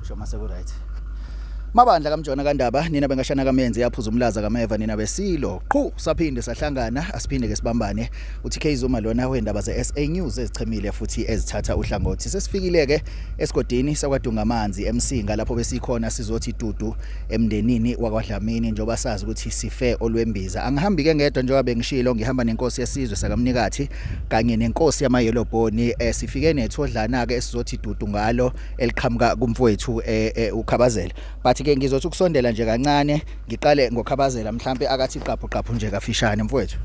Sho mase ku right. Mabandla kamjona kandaba nina bengashana kamenzi yaphuza umlaza kameva nina besilo qhu saphinde sahlangana asiphinde ke sibambane uthi Kzuma lona wendaba ze SA News ezichemile futhi ezithatha uhlangothi sesifikile ke esigodini sakwadunga amanzi emsinga lapho besikhona sizothi dudu emndenini wakwaDlamini njoba sazi ukuthi sife olwembiza angihambi ke ngedwa njengoba bengishilo ngihamba nenkosi yesizwe sakamnikathi kanye nenkosi yama yellow bone eh, sifike nethodlana ke esizothi dudu ngalo eliqhamuka kumfowethu eh, eh, ukhabazela but ke ngizothi ukusondela nje kancane ngiqale ngokhabazela mhlambe akathi qaphu qaphu nje kafishane mfowethu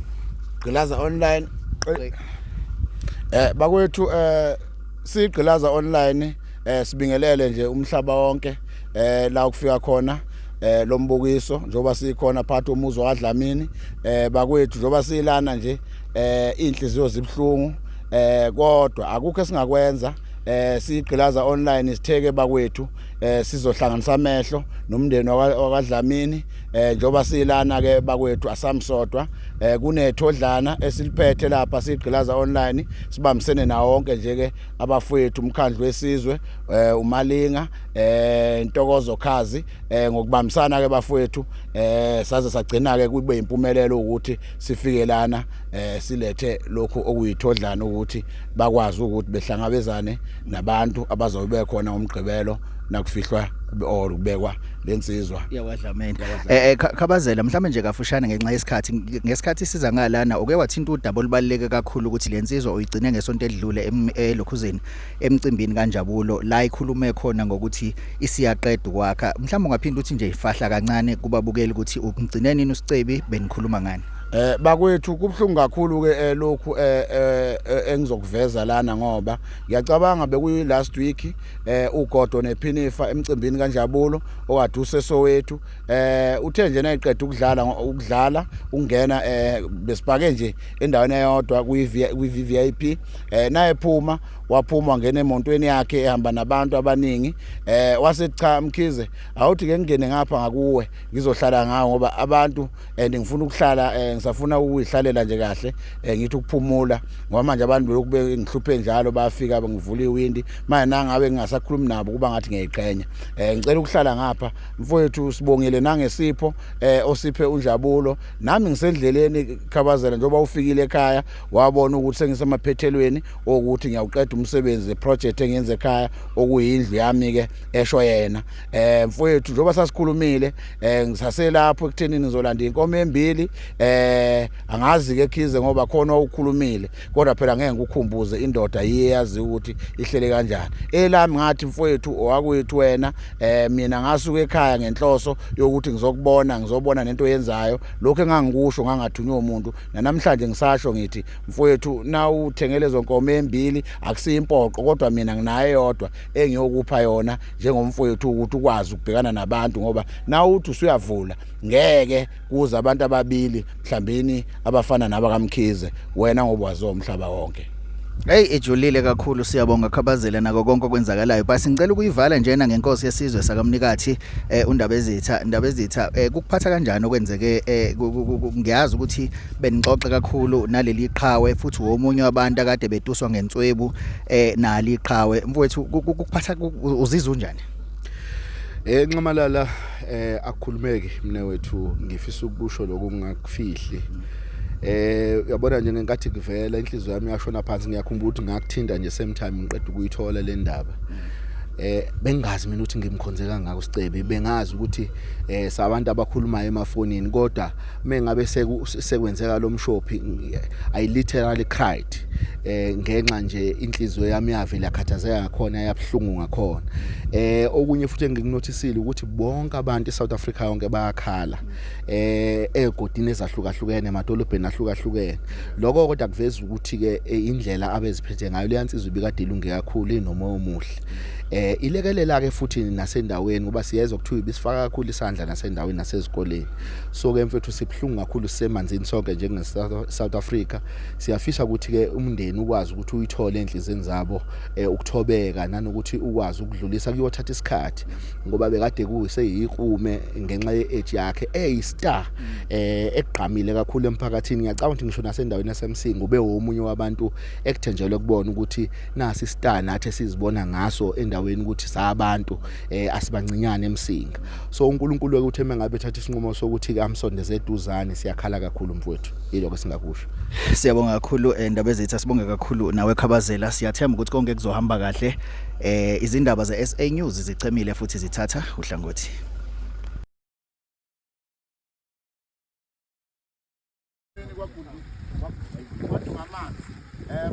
gqilaza online eh bakwethu eh sigqilaza online eh sibingelele nje umhlaba wonke eh la ukufika khona eh lombukiso njoba sikhona phathi umuzi wadlamini eh bakwethu njoba silana nje eh inhliziyo zibhlungu eh kodwa akukho esingakwenza eh sigqilaza online sitheke bakwethu eh sizohlanganisa amehlo nomndeni wakwaDlamini eh njoba silana ke bakwethu asamsodwa eh kunethodlana esiliphethe lapha sigqilaza online sibambisene na wonke nje ke abafowethu umkhandlu wesizwe eh umalinga eh intokozo khazi eh ngokubambisana ke bafowethu eh saze sagcina ke kube impumelelo ukuthi sifikelana eh silethe lokhu okuyithodlana ukuthi bakwazi ukuthi behlangabezane nabantu abazobe bekhona umgqibelo nakufihlwa or kubekwa lensizwa yakwaDlamini eh, eh khabazela mhlawumbe nje kafushane ngenxa yesikhathi ngesikhathi siza ngalana uke wathinta udaba olubaleke kakhulu ukuthi lensizwa uyigcine ngesonto edlule elokhuzeni emcimbini kanjabulo la ikhulume khona ngokuthi isiyaqeda ukwakha mhlawumbe ungaphinda uthi nje ifahla kancane kubabukeli ukuthi ugcine nini usicebi benikhuluma ngani Eh bakwethu kubhlungu kakhulu ke eh, lokhu eh, eh, eh engizokuveza lana ngoba ngiyacabanga bekuyi last week eh uGodo nePhinifa emcimbini kaNjabulo owaduse sowethu eh uthe nje nayiqeda ukudlala ukudlala ungena eh besipake nje endaweni eyodwa kwi VIP eh naye phuma waphuma ngene emontweni yakhe ehamba nabantu abaningi eh wasethi cha mkhize awuthi ke ngingene ngapha ngakuwe ngizohlala ngawo ngoba abantu and ngifuna ukuhlala eh, ngisafuna ukuyihlalela nje kahle eh, ngithi ukuphumula ngoba manje abantu belokhu bengihluphe njalo bafika bengivula iwindi manje nangabe ngingasakhulumi nabo kuba ngathi ngiyayiqhenya eh, ngicela ukuhlala ngapha mfowethu sibongile nangesipho osiphe unjabulo nami ngisendleleni khabazela njengoba ufikile ekhaya wabona ukuthi sengisemaphethelweni okuthi ngiyawuqeda umsebenzi project engenze ekhaya okuyindlu yami ke esho yena eh mfowethu njengoba sasikhulumile eh ngisaselapho ekuthenini ngizolanda inkomo embili eh angazi ke khize ngoba khona ukukhulumile kodwa phela ngeke ngikukhumbuze indoda iyazi ukuthi ihlele kanjani elami ngathi mfowethu owakwethu wena eh mina ngasuka ekhaya ngenhloso yokuthi ngizokubona ngizobona nento yenzayo lokho engangikusho ngangathunywa umuntu namhlanje ngisasho ngithi mfowethu na uthengele zonkomo embili akusiyi impoqo kodwa mina nginayo yodwa engiyokupha yona njengomfowethu ukuthi ukwazi ukubhekana nabantu ngoba nawe uthi usuyavula ngeke kuze abantu ababili mhlambini abafana naba kamkhize wena ngoba waziwa umhlaba wonke Hey ejulile kakhulu siyabonga khabazela nako konke okwenzakalayo but ngicela ukuyivala njena ngenkosi yesizwe sakamnikathi eh undaba ezitha indaba ezitha eh kukuphatha kanjani okwenzeke eh ngiyazi ukuthi benixoxa kakhulu naleli qhawe futhi womunye wabantu akade betuswa ngenswebu eh nali iqhawe mfowethu ukuphatha uzizwa unjani Eh Nxamalala eh akukhulumeki mina wethu ngifisa ukusho lokho ngakufihli eh uyabona nje ngenkathi kuvela inhliziyo yami yashona phansi ngiyakhumbula ukuthi ngakuthinta nje same time ngiqeda ukuyithola le ndaba eh bengazi mina ukuthi ngimkhonze kangaka uSicebe bengazi ukuthi eh sabantu abakhulumayo emafonini kodwa mengabe sekwenzeka lo mshophi i literally cried eh ngenxa nje inhliziyo yami yavela yakhathazeka ngakhona yabuhlungu ngakhona eh okunye futhi engikunothisile ukuthi bonke abantu eSouth Africa yonke bayakhala eh egodini ezahlukahlukene emadolobheni ahlukahlukene lokho kodwa kuveza ukuthi ke eh, indlela abeziphethe ngayo leyansizwe ibikade ilunge kakhulu inomoya omuhle eh ilekelela ke futhi nasendaweni ngoba siyezwa kuthiwa ibisifaka kakhulu isandla nasendaweni nasezikoleni so ke mfethu sibuhlungu kakhulu sisemanzini sonke njenge South Africa siyafisa ukuthi ke umndeni ukwazi ukuthi uyithole enhlizweni zabo eh, ukuthobeka nanokuthi ukwazi ukudlulisa kuyothatha isikhathi ngoba bekade kuseyikume ngenxa yeage yakhe eyi star eh egqamile kakhulu emphakathini ngiyacabanga ukuthi ngisho nasendaweni yasemsinga ube womunye wabantu ekuthenjelwe kubona ukuthi nasi star nathi sizibona ngaso endaweni ukuthi sabantu eh asibancinyane emsinga so uNkulunkulu ke uthe mengabe thatha isinqumo sokuthi ke amsondeze eduzane siyakhala kakhulu mfowethu yilo ke singakusho siyabonga kakhulu eh, ndaba ezitha sibonge kakhulu nawe khabazela siyathemba ukuthi konke kuzohamba kahle eh izindaba ze SA News zichemile futhi zithatha uhlangothi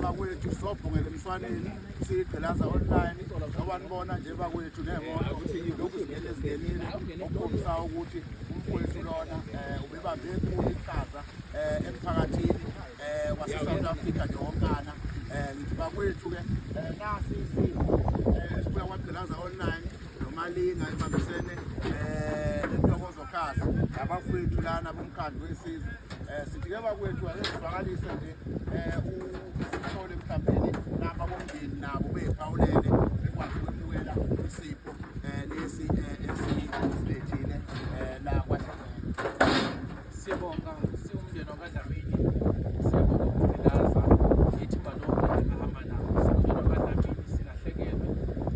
bakwethu sobhongela emshwaneni siyiqhilaza online awanibona nje bakwethu nemoto ukuthi lokhu zingene zingenile okukhombisa ukuthi umfowethu lona um ubebambe enkulu iqhaza um emphakathini um wasesouth africa nje wonkana um ngithi bakwethu-ke um nasi isimo um sibuya kwagqilaza online Nomalinga ebambisene eh nentokozo khasi abafowethu lana bomkhandlu wesizwe eh sithi ke bakwethu akezivakalise nje eh usithole mhlawumbe naba bomndeni nabo bephawulele bekwazi ukwemukela isipho eh lesi eh, esiyilethile eh la kwa Siyabonga siwumndeni wakwaDlamini. Siyabonga ukuvilaza ithimba lonke engahamba nabo. Siwumndeni wakwaDlamini silahlekelwe,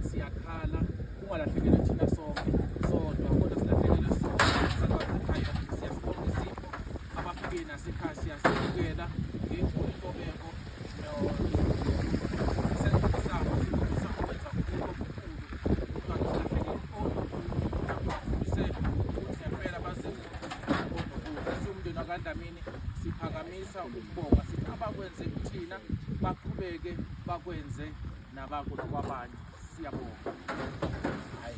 siyakhala, ungalahlekelwe thina sonke sodwa kodwa silahlekelwe sonke sakwazikhaya. Siyasibonga isipho abafike nasekhaya siyasibukela ngenkulu intobeko umndeni wakandlamini siphakamisa ukubonga sithi abakwenze kuthina baqhubeke bakwenze nabakulo kwabanye siyabonga hayi